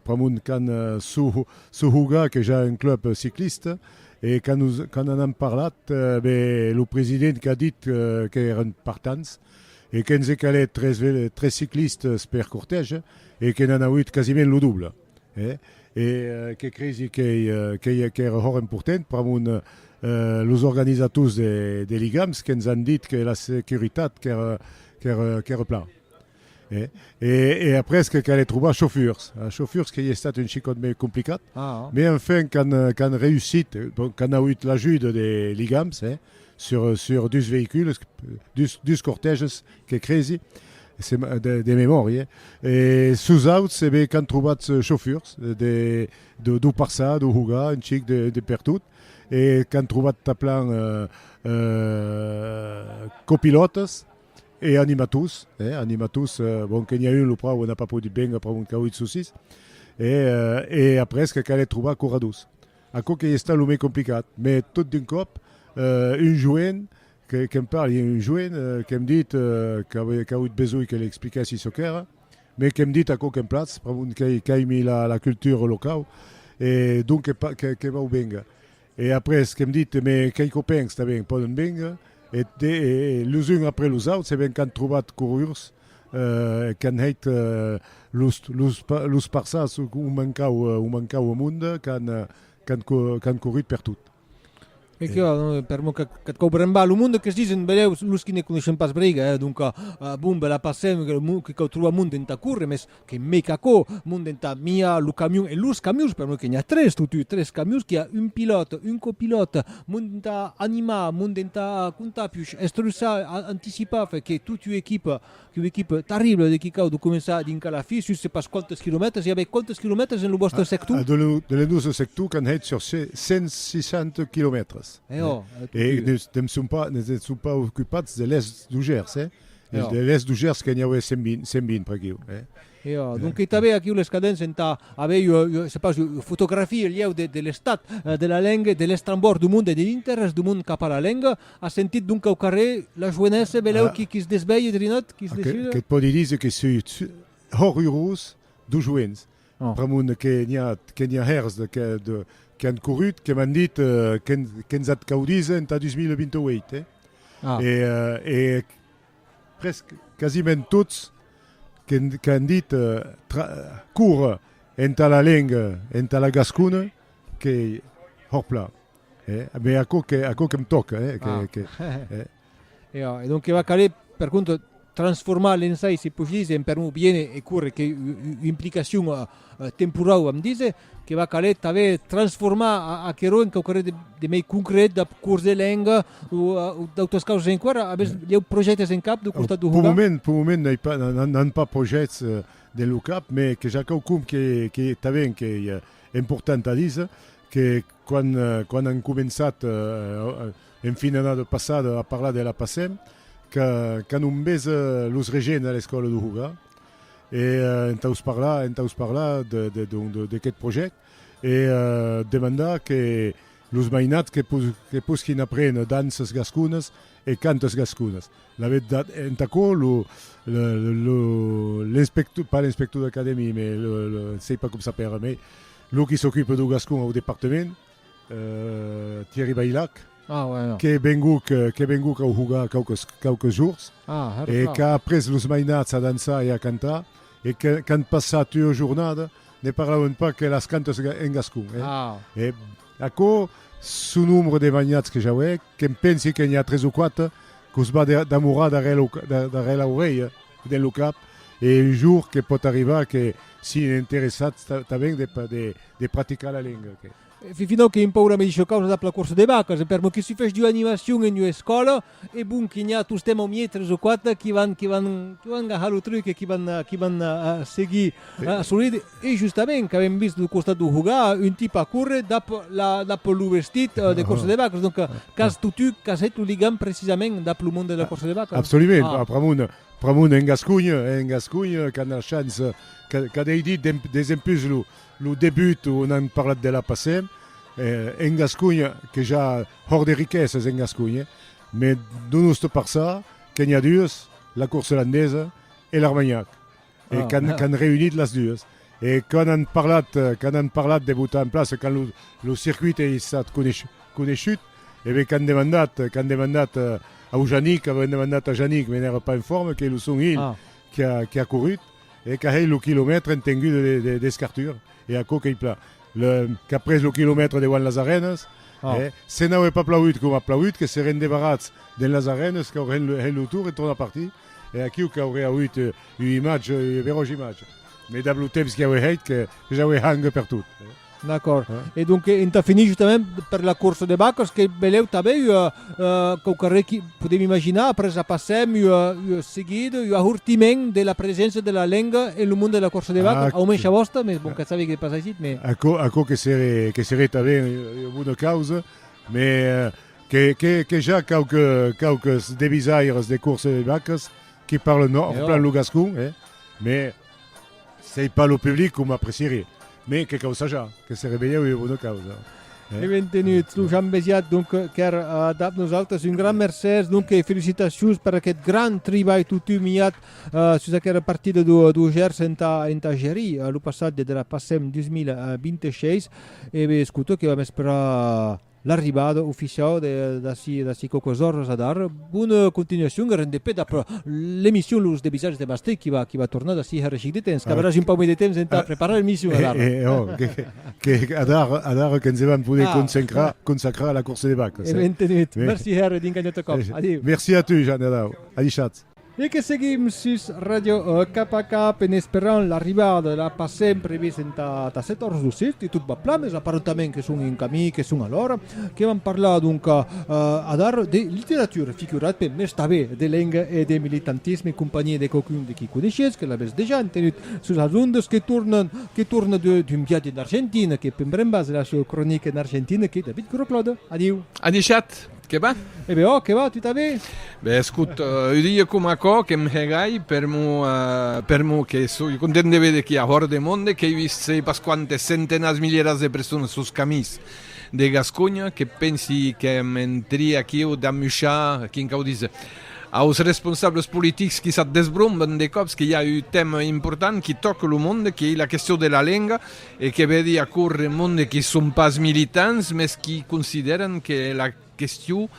pr'amont qu'an sou hougat que ja un club cicliste e quand nous, quand n'en an parlat, be lo president qu'a dit qu'èran partants e que'ns e calèt tres, tres ciclistes per cortège e que n'an auut quasiment lo double. E que cresi qu'ei aquera hòra important pr'amont los organisators de ligams que'ns an dit que la securitat qu'ère plan. E après que calè trobar chauffeurs. Chauffeurs qu'ei estat un chicòt mei complicat, mei enfin qu'an reusit, qu'an aüit l'ajuda de ligams, sur sur dus veïcules dus dus cortèges que cresi se de, de memòria e sus auts e be qu'an trobats chauffurs de de deu passar deu jugar un chic de de pertot e qu'an trobat tanplan eh eh copilòtes e animators e animators bon que n'i a un lo pròf n'a pas podut venga pr'amor qu'auie de sossís e e après que calèt trobar corredors Aquò qu'ei estat lo mei complicat, mè tot d'un còp un joen que'm parli, un joen que'm dit qu'a auut besonh que l'explicassi çò qu'èra, mè que'm dit aquò que'm platz, pr'amont qu'aimi la cultura locau e donc que vau vénga. E après que'm dit mè quei copèns tanben pòdon vénga e los uns après los auts se vèn qu'an trobat corrurs qu'an hèit los parças o mancau o mond qu'an corrit per tot. E que per mon qu'ath cau brembar lo monde que's disen, vedèu, los qui ne coneishen pas Breiga, donca, bon, be la passèm, que cau trobar monde entà córrer, mès Que me qu'aquò monde entà miar lo camion e los camions, per noi que n'i a tres totut, tres camions, qu'i a un pilòt, un copilòt, monde entà animar, monde entà contar piuch, estruçar, anticipar, fait que totut equip, qu'u equip terrible de quicau de començar dinca la fi, sus se pas quantes quilomètres, i a avè quantes quilomètres en lo vòstre sector? De lo, de lo nòstre sector qu'an hèit sur se 160 quilomètres. Eò, totut. E ne, ne son pas, ne se son pas ocupats de l'Est du Gers, eh? Los de l'èst du Gèrs que n'i aué 120, 120 per aquiu, eh. Io, donc i t'avè aquiu les cadents entà aver ua, ua, se pas, ua fotografia lhèu de, de l'estat de la lenga, de l'estrambòrd du monde e de l'interès du monde cap a la lenga. As sentit donc au carrè la joenessa, velèu qui, qui se desvelhe, Drinot, qui se desula? Que't pòdi díser que sui hòrrurós du joens. Ramon, Que n'i a, que n'i a hèrs de, que, de, que an corrut, que m'an dit que, que'ns at caudís entà 2028, eh? Ah. E, e prèsc, quasiment tots, que, qu'an dit tra, córrer entà la lenga, entà la gascona, qu'ei horplà, eh? Mès aquò que, aquò que'm tòca, eh? Que, que, eh? E a, e donc va caler per contra transformar l'ensai, si puc dire, en permor bien e, e córrer que implicacion temporau am dire, que va caler tanben transformar a, aquerò en quauquarre de, de mei concret, dab cors de lenga o, o d'autras causas enqüèra. Avètz lhèu projèctes en cap dau costat dau Hogar? Pel moment, pel moment n'ai pas, n'an pas projèctes dens lo cap, mès que ja quauqum que, que tanben qu'ei important a dire, que quan, quan an començat En fin d'annada passada a parlar de la PASEM, que qu'anon bes los regents a l'escòla de Hoga, e entaus parlar, entaus parlar de de donc de d'aqueth projèct, e demandar que los mainats que pos que posquin aprene danças gasconas e cantas gasconas. La vertat, entà aquò lo le lo l'inspecto pas l'inspector d'acadèmia, mais le le sei pas com s'apèra, mais lo qui s'ocupe dau gascon au departament, Thierry Baylac, qu'es venguc au jogar quauques jorns e qu'a après los mainats a dançar e a cantar e qu'an passat ua jornada, ne parlauen pas que las cantas en gascon. E aquò son nombre de mainats que j'auec, que'm pensi que n'i a tres o quatre qu'os va damorar darrèr l'aurelha, dins lo cap e un jorn que pòt arribar que si'n interessats tanben de praticar la lenga que Finau que un paura me dicho causa dab la corsa de vacas, per mo que si fech d'ua animacion en ua escòla, e bon que n'i a tostemp au miei tres o quatre qui van qui van qui van gahar lo truc e qui van qui van seguir a soride e justament qu'avem vist lo costat d'o jugar un tip a córrer dab la dab lo vestit de corsa de vacas donc qu'as totu qu'as hèt lo ligam precisament dab lo mond de la corsa de vacas. Absolument, pr'amor pr'amor en Gascunh en Gascunh qu'a na chance qu'a qu'a dei dit de desempús lo Lo debut o n'an parlat de la passé en Gasconha que ja hòr de riquesas en Gasconha me do nosto parçà que n'i a duas la corsa olandesa e l'armagnac e qu'an reunit las duas e quand an parlat quand an parlat de botar en plaça quand lo circuit ei estat coneishut e ben qu'an demandat qu'an demandat au Janic avèn demandat a Janic me n'èra pas en forma qu'ei lo son hilh qui a courut e qu'a hèit lo quilomètre en tenguda d'escartura, e aquò qu'ei plan, le, qu'a pres lo quilomètre deuant las arenas, e, se n'aué pas plaut com a plaut, que se rende barrats dens las arenas, qu'a hèit hèit lo tour e torna partir, e aquiu qu'auré auut ua imatge, ua beròja imatge, mai dab lo temps qu'i aué hèit, que, que j'aué hang pertot. D'acòrd. E donc entà finir justament per la corsa de vacas que belèu tanben ua uh, quauque arrèr qui podem imaginar, après la passèm ua, ua seguida, ua ahortiment de la preséncia de la lenga en lo mond de la corsa de vacas, au mensh a vòsta, mès bon, qu'a saber que pas aisit, mès. Aquò, aquò que seré, que seré tanben ua bona causa, mès que, que, que ja quauque, quauques devisaires de corsa de vacas qui parlen, non, plan lo gascon, eh, mès Sei pas lo public com aprecieri, mais que causa ja, que se revelhe ua bona causa. Eh? E ben tenuts, lo Jean Besiat, donc, qu'èr uh, dab nosaltres, un gran mercès, donc, e felicitacions per aquest gran tribalh totu miat uh, sus aquera partida do, do Gers enta, enta Gerí, uh, lo passatge de la PASEM 2026, e bé, escuto que vam esperar L'arribada oficiau d'ací d'ací quauquas oras a dar bona continuacion e rende pè dab l'emission Los Debisats de Bastei qui va qui va tornar d'ací hèr chic de temps, qu'averàs un pauc mai de temps entà preparar l'emission a dar. E e oh, que que a dar a dar que nse vam poder consacrar consacrar a la course de vacas. E bentenut. Merci hèr e vinga un autre còp. Adiu. Merci a tu, Jean, adau. Adishatz. E que seguim sus Ràdio Cap a Cap en esperant l'arribada de la Pasem previst entà 14:17 e tot va plan mes aparentament que son en camí, que son a l'ora, que vam parlar donca adar de literatura, figurat pe mes tanben de lenga e de militantisme en companhiá de quauqu'un de qui coneishetz, que l'avètz dejà entenut sus las ondas, que torna que torna de d'un viatge en Argentina, que pembrembas la sua cronica en Argentina que David Groclaude. Adiu! A dishat! Que va? E be ò, que va, tu ta be? Be escut, u dia com aquò que m'hegai per mo, per mo que soi content de vede quia hòr de monde, qu'ei vist sei pas quantes centenats, milieras de personas sos camins de Gasconha, que pensi que m'entri aquiu d'amuchar, quincau díser aus responsables politics qui s'at desbromben de còps qu'i a un tèma important qui tòca lo monde, qu'ei la question de la lenga, E que vedi aquò remonde qui son pas militants mes qui considèran que la question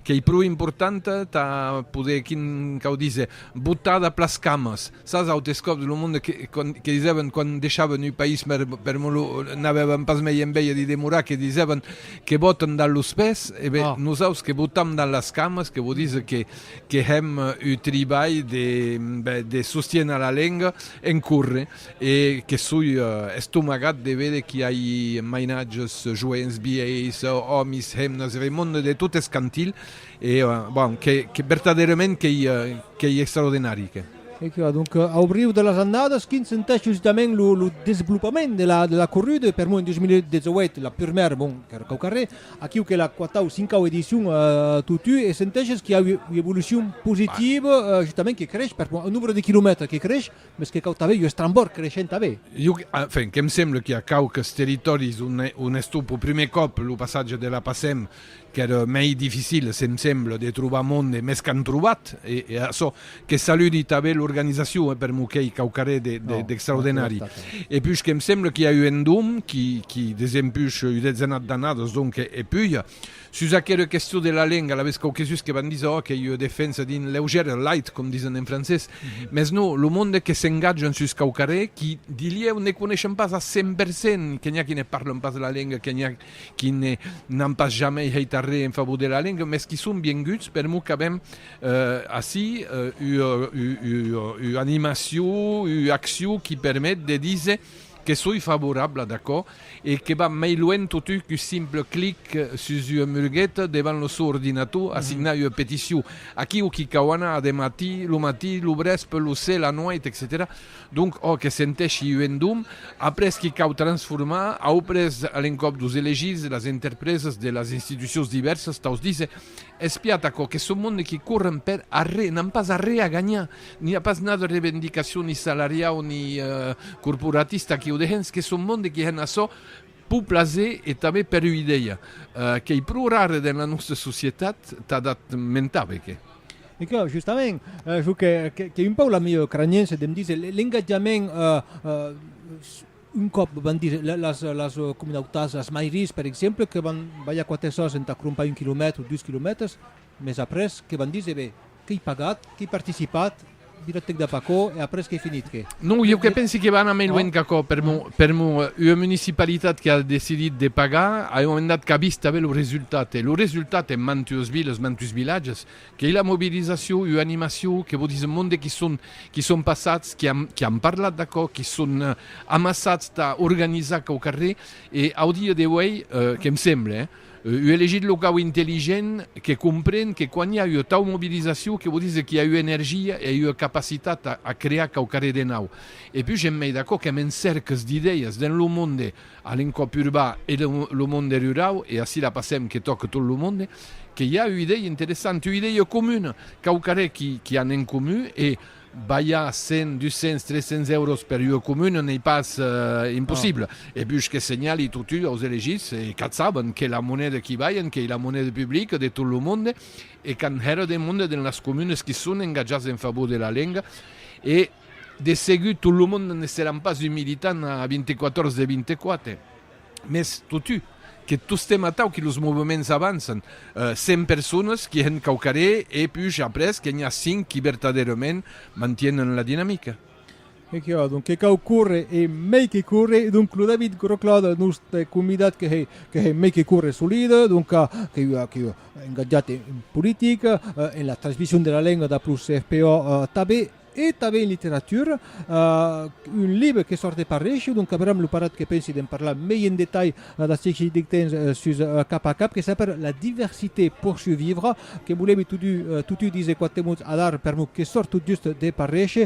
qu'ei pro importanta tà poder, quin cau díser, botar dab las camas sas autes còps lo monde que que disèvan quan deishavan ua país per per molhor n'avèvan pas mei enveja d'i demorar que disèvan que botan dab los pès e ben nosaus que botam dab las camas que vò díser que que hèm ua tribalh de ben de sostiéner la lenga en córrer. E que soi estomagat de véder qu'i ai mainatges, joents, vielhs, òmis, hemnas, e remond de tot eth cantil, e, bon, que vertadèrament qu'ei extraordinari, que. E que, adonc, au riu de las annadas, quin sentèc jusitament lo desvolopament de la corrida, per moi en 2018, la purmèra, bon, qu'èra quau carrèr, aquiu qu'ei la quatau, cincau edicion totú, e sentèc qu'i a ua evolucion positiva, justament que crèsh, per moi, eth nombre de quilomètres que crèsh, Mès que cau tanben un estrambòrd creishent a bèth. Jo, enfin, que'm semble qu'i a quauques territòris on es tot per prumèr còp lo passatge de la PACEM qu'ère mei dificil, se'm semble, de trobar monde, mès qu'an trobat, e açò que saludi tanben l'organizacion, eh, per m'o qu'ei quauquarré d'extraordinari. E puish que'm semble qu'i a eu un dom qui, qui, desempús ua dezenat d'annadas, donc, e puja, Sus aquera question de la lenga, l'avès quauquesus que van díser, oh, qu'ei ua defensa d'un leugièr, light, com disen en francés, mès no, lo monde que s'engatjan sus quauquarré, qui, dilhèu, ne coneishen pas a cent per cent, que n'i a qui ne parlen pas la lenga, que n'i a qui ne n'an pas jamei hèit arré en favor de la lenga, mès qui son vienguts per mos qu'avem ací ua animacion, ua accion qui permet de díser, Que soi favorabla d'aquò e que va mei luènh totun qu'un simple clic sus ua mulgueta devant lo sò ordinator a signar ua peticion. Aquí o qui cau anar a de matí, lo matí, lo brèspe, lo se, la nuèit, etcetèra. Donc ò que sentèshi un endum, après qui cau transformar, auprès a l'encòp dos elegits, las interpresas de las institucions divèrsas, taus díser, Espiat aquò, que son monde qui corren per arré, n'an pas arré a ganhar! N'i a pas nada revendicacion ni salariau ni corporatista qui o dejen, es que son monde qui hèn açò pur plaser e tanben per ua idèia qu'ei pro rara dens la nòsta societat, tà dat mentar be que. E que, justament, jo qu'ei un pauc la mieu craniença de me díser, l'engatjament, un còp van díser las comunautats, las mairies per exemple, que van balhar quate sòs entà crompar un quilomètre o dus quilomètres, Mes après, que van díser? Be, qu'ei pagat, qu'ei participat, viratèc dab aquò, e après qu'ei finit, que? Non, ieu que pensi que va anar mei luenh qu'aquò, per mon, per mon, ua municipalitat que a decidit de pagar, aeu endat qu'a vist tanben lo resultat, e lo resultat en mantues viles, mantues vilatges, qu'ei la mobilizacion, ua animacion, que vò díser monde qui son, qui son passats, qui an, qui an parlat d'aquò, qui son amassats tà organizar aquò au carrèr, e au dia d'auei, que'm semble, Ui elegit lo cau intelligent que compren que quan i a ua tau mobilizacion que vò díser qu'i a ua energia e a ua capacitat a crear quauquarre de nau. E pus j'en mei d'acò qu'èm en cèrques d'idèias dens lo monde a l'encòp urbà e dens lo monde rurau, e ací la passèm que tòca tot lo monde, que i a ua idèia interessanta, ua idèia comuna, quauquarre qu'i an en comun e, Balhar 100, 200, 300 èuros per ua comuna n'ei pas impossible. E puish que senhali totun aus elegits e qu'ath saben que la moneda qui balhen qu'ei la moneda publica de tot lo monde e qu'an hèra de monde dens las comunes qui son engatjats en favor de la lenga e de segur tot lo monde ne seràn pas un militant a 24 ors de 24. Mès totu que tostemp atau que los movements avançan, 100 personas qu'i hèn quauquarré e puish après que n'i a 5 qui vertadèrament mantienen la dinamica. E qu'i a donc que cau córrer e mei que córrer, donc lo David Groclaude, lo nòste convidat que hè que hè mei que córrer solide, donc qu'i a qu'i a engatjat en politica, en la transmission de la lenga dab lo CFPO tanben. E tanben en literatura, un libre que sòrt de Parresh, donc Abraham Luparat que pensi d'en parlar mei en detalh dath siègli deth temps sus Cap a Cap, que s'apèra La diversité pour survivre, que volèmi totun díser quate mots adar per non que sòrt tot just de Parresh.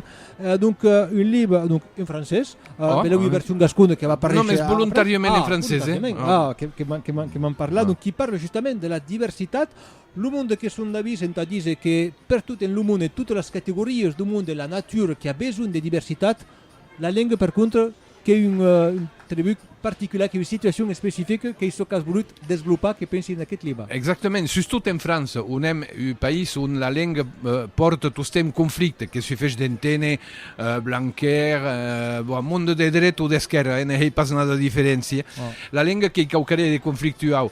Donc un libre donc en francés, belèu ua version gascona que va Parresh. Non, mès volontàriament en francés. Ah, volontàriament, ah, que m'an parlat, donc qui parle justament de la diversitat, Lo monde que son d'avís entà díser que pertot en lo monde, totas las categorias do monde, la natura qu'a besonh de diversitat, la lenga per contra qu'es un tribut particular, qu'es una situacion especifica, qu'ei çò qu'as volut desvolopar, que pensi en aqueth libre. Exactament, sustot en França, on èm un país on la lenga pòrta tostemp conflicte, que sufech d'enténer Blanquer, bon, monde de dreta o d'esquèrra, eh, ne hèi pas nada diferéncia, la lenga qu'ei quauquarrèr de conflictuau.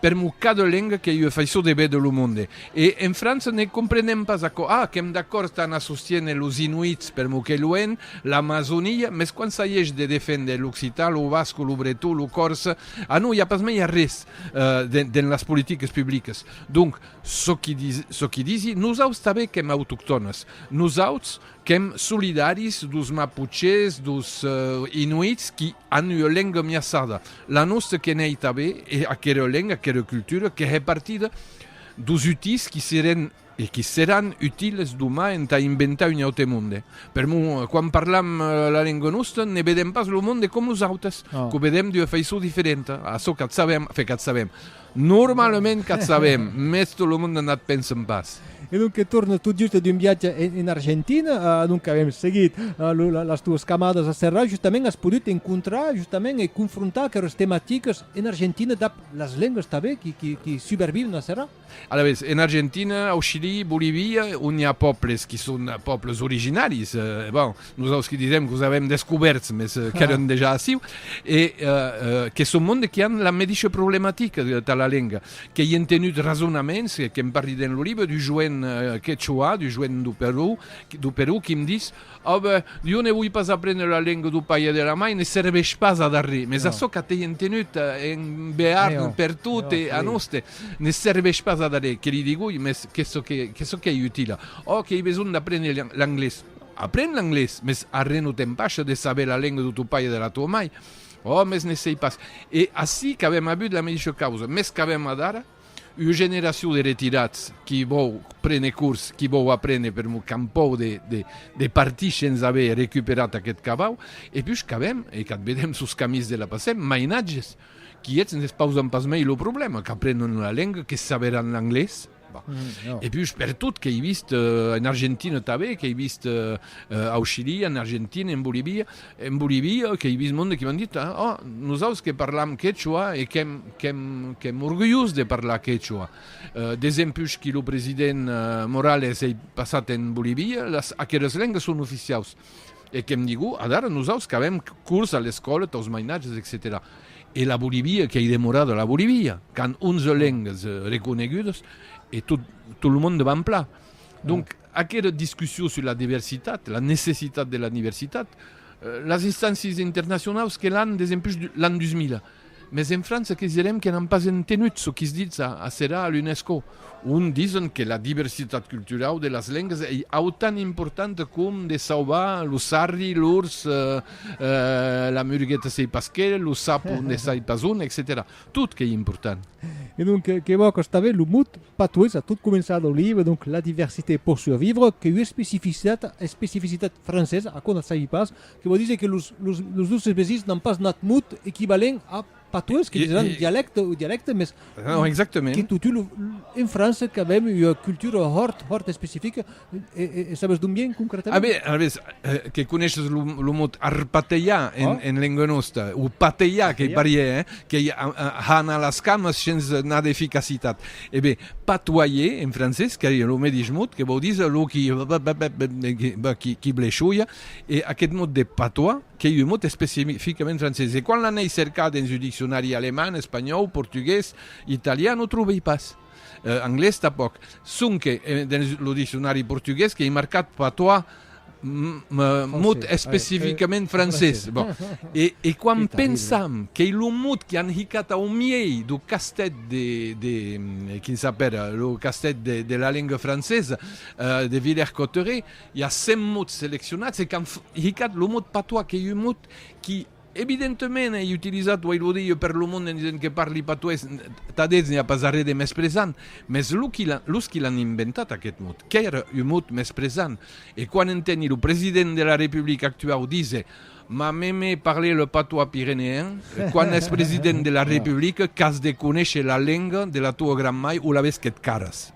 Per mo cada lenga qu'ei ua faiçon de véder lo monde. E en França ne comprenem pas aquò. Ah, qu'èm d'acòrd tà anar sostiéner los Inuits per mo qu'ei luenh, l'Amazonia, mès quand s'aiesh de defénder l'occitan, lo basco, lo breton, lo còrse, ah non, i a pas mei arrés dens las politiques publiques. Donc, çò qui disi, nosaus tanben qu'èm autoctònes. Nosauts, Qu'èm solidaris dos Mapuches, dos Inuits qui an ua lenga miaçada. La nòsta que n'ei tanben e aquera lenga, aquera cultura que hè partida dos utís qui seren e qui seràn utiles domà entà inventar un aute monde. Per mon, quan parlam la lenga nòsta, ne vedem pas lo monde com nosautes, qu'o vedem d'ua faiçon diferenta, a çò qu'ath sabem, enfin qu'ath sabem, Normalament qu'ac sabem, mès tot lo monde n'ac pensen pas. E donc que tornes tot just d'un viatge en Argentina, donc avèm seguit las tuas camadas a Serrat, justament as podut encontrar justament e confrontar aqueras tematicas en Argentina dab las lengas tanben qui suberviuen a Serrat? Alavetz, en Argentina, au Chili, Bolivia, ont i a pòbles qui son pòbles originaris, bon, Nosaus que disèm qu'os avèm descubèrts, mès qu'èran dejà aciu, e que son monde que an la medisha problematica tà la lenga, que i èn tenut rasonaments, que'm parli dens lo libre, du joen quechua, du joen du Perú, du Perú, qui'm dis, Oh ben, jo ne voi pas aprendre la lenga du pair e de la mair, ne serveish pas ad arri, mès açò qu'at ei en tenut en Bearn, per tot, e a noste, ne serveish pas ad arri, que li digui, mès que çò qu'ei utila, Oh, qu'ei besonh d'aprendre l'anglés. Apren l'anglés, mes arren o t'empasha de saber la lenga do tò pair e de la tò mai. Ò, mes ne sei pas. E ací qu'avèm avut la meisha causa, mes qu'avèm adara ua generacion de retirats qui vòu prene cors, qui vòu aprene per mon campau de partir shens aver recuperat aqueth cavau, e pus qu'avèm, e qu'ath vedèm sos camins de la passèm, mainatges, qui eths n'espausan pas mei lo problèma, qu'aprenon ua lenga, que saberàn l'anglés. E pus per tot qu'ei vist en Argentina tanben, qu'ei vist au Chili, en Argentina, en Bolivia, en Bolivia qu'ei vist monde que m'an dit, oh, nosaus que parlam quechua e qu'èm orgulhós de parlar quechua. Desempus que lo president Morales ei passat en Bolivia, aqueras lengas son oficiaus. E que'm digu, adara nosaus qu'avèm curs a l'escòla taus mainatges, etcetèra E la Bolivia qu'ei demorada la Bolivia, qu'an onze lengas reconegudas e tot lo monde van plan. Donc, aquera discussion sus la diversitat, la necessitat de la diversitat, las instàncies internacionaus que l'an des empush l'an 2000, Mes en França que's direm que n'an pas entenut çò qui's ditz a serà a l'UNESCO, ont dison que la diversitat culturau de las lengas ei autan importanta com de sauvar lo sarri, l'ors, la murgueta sei pas qué, lo sapo ne sai pas on, etcetèra. Tot qu'ei important. E donc, que vò qu'estave lo mot patois a tot començar lo libre, donc la diversité pour survivre, qu'ei ua especificitat francesa, aquò n'ath sabi pas, Que vò díser que los nòstres vesins n'an pas nat mot equivalent a patois, que disèran dialècte o dialècte, mès que totun en França qu'avèm ua cultura hòrt, hòrt especifica, e sabes d'on vien concretament? A ben, alavetz, que coneishes lo mot arpatejar en lenga nòsta, o patejar qu'ei parièr, hein, qu'ei har anar las camas shens nà d'eficacitat. E ben, patoyer, en francés, qu'ei lo medish mot, que vò díser lo qui, bèp, bèp, bèp, bèp, qui bleisholha, E aqueth mot de patois qu'ei un mot especificament francés. E quan l'anei cercar dens un diccionari alemand, espanhòu, portugués, italian, o trobei pas. Anglés tanpòc. Sonque dens lo diccionari portugués qu'ei marcat patois, mot especificament francés. E quan pensam qu'ei lo mot qu'an hicat au miei dau castèth de, quin s'apèra, lo castèth de la lenga francesa, de Villers-Cotterets, I a cent mots seleccionats e qu'an hicat lo mot patois, qu'ei un mot qui evidentement ei utilizat, uèi lo dilhe, per lo mond en disent que parli patois, tà d'elhs n'i a pas arrè de mespresant, mès lo qui l'an, los qui l'an inventat aquest mot, qu'èra un mot mespresant, e quan enteni lo president de la Republica actuau díser M'a m'aimé parler le patois pyrénéen, quan ès president de la Republica qu'as de conéisher la lenga de la toa gran-mai o la vés que't caras.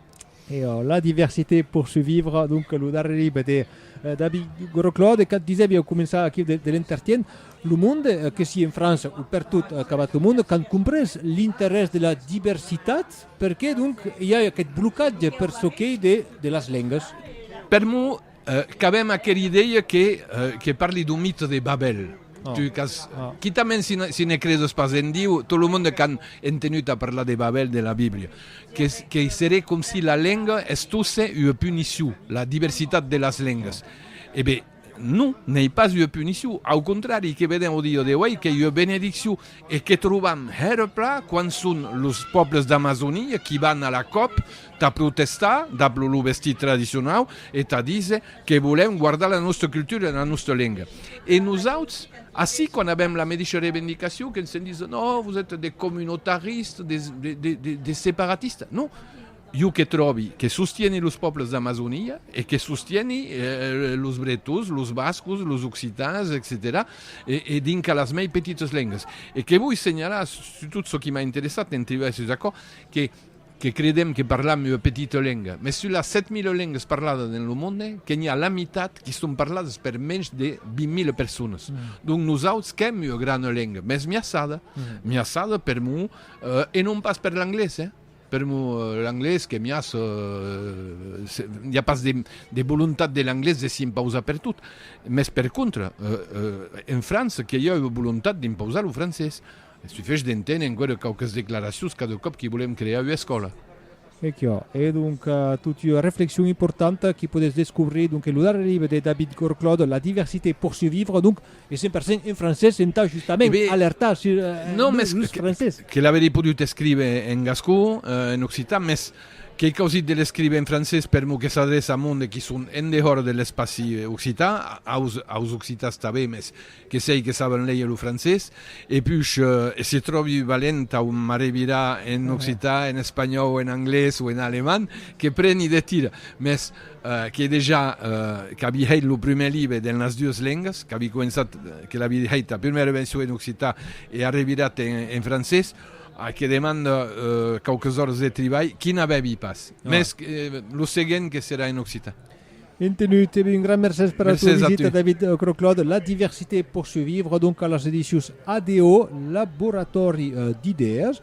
E la diversité pour survivre, donc lo darrer libre de eh, David Groclaude, quand disèvi au començar aquí de, de l'entertien, lo monde, eh, que si en França ou per tot eh, acabat lo monde, quand comprés l'interès de la diversitat, perqué donc i a aquest blocatge per çò qu'ei de, de las lengas? Per mo, Qu'avèm aquel idèia que que parli d'un mite de Babèl. Tu qu'as quitament si si ne credes pas en Diu, tot lo monde qu'an entenut a parlar de Babèl de la Biblia, que que seré com si la lenga estosse ua punicion, la diversitat de las lengas. E ben, non, n'ei pas ua punicion, au contrari, que vedèm ò dia d'auei qu'ei ua benediccion. E que trobam hèra pla quan son los pòbles d'Amazonia qui van a la còp tà protestar dab lo vestit tradicionau e tà díser que volèm guardar la nòstra cultura e la nòstra lenga. E nosauts, ací, quan avèm la medisha revendicacion, que se'n disen, oh, vos ètes des communautaristes, des separatistes. Non, Jo que tròbi que sostieni los pòbles d'Amazonia e que sostieni los bretons, los bascos, los occitans, etcetèra, e dinca las mei petitas lengas. E que voi senhalar, sutot çò qui m'a interessat en tribalhar sus aquò, que que credèm que parlam ua petita lenga, mès sus las 7.000 lengas parladas dens lo monde, que n'i a la mitat qui son parladas per mensh de 20.000 personas. Donc nosauts qu'èm ua grana lenga, mès miaçada, miaçada per mon e non pas per l'anglés, eh! Per mo, l'anglés qu'es mias, i a pas de volontat de l'anglés de s'i impausar pertot, mès per contra, en França, que i a ua volontat d'impausar lo francés. Sufesh d'enténer enqüèra quauques declaracions cada còp qu'i volèm crear ua escòla. E quò es donc tot ua reflexion importanta qu'i podètz descobrir donc en lo darrèr libre de David Gorclod, La diversité pour survivre, donc E cent per cent en francés, entà justament alertar sur l'ús francés. Que l'averie podut escriver en gascon, en occitan, mès qu'ei causit de l'escriver en francés per mot que s'adreça a monde qui son en dehors de l'espaci occitan, aus occitans tanben, mès que sei que saben léger lo francés. E puish, e se tròbi valent tau m'arrevirar en occitan, en espanhòu, en anglés o en alemand, que preni de tira. Mès. que dejà qu'avi hèit lo prumèr libre dens las duas lengas, qu'avi començat, que l'avi hèit la prumèra version en occitan e a revirat en, en francés, a que demanda quauques òras de tribalh, qui n'avèvi pas. Ah. Mès lo seguent que serà en occitan. Entenut, e ben un gran mercés per la tua visita, David Croc-Claude. La diversité poursuivre, donc, a las edicions ADO, Laboratòri d'idèas.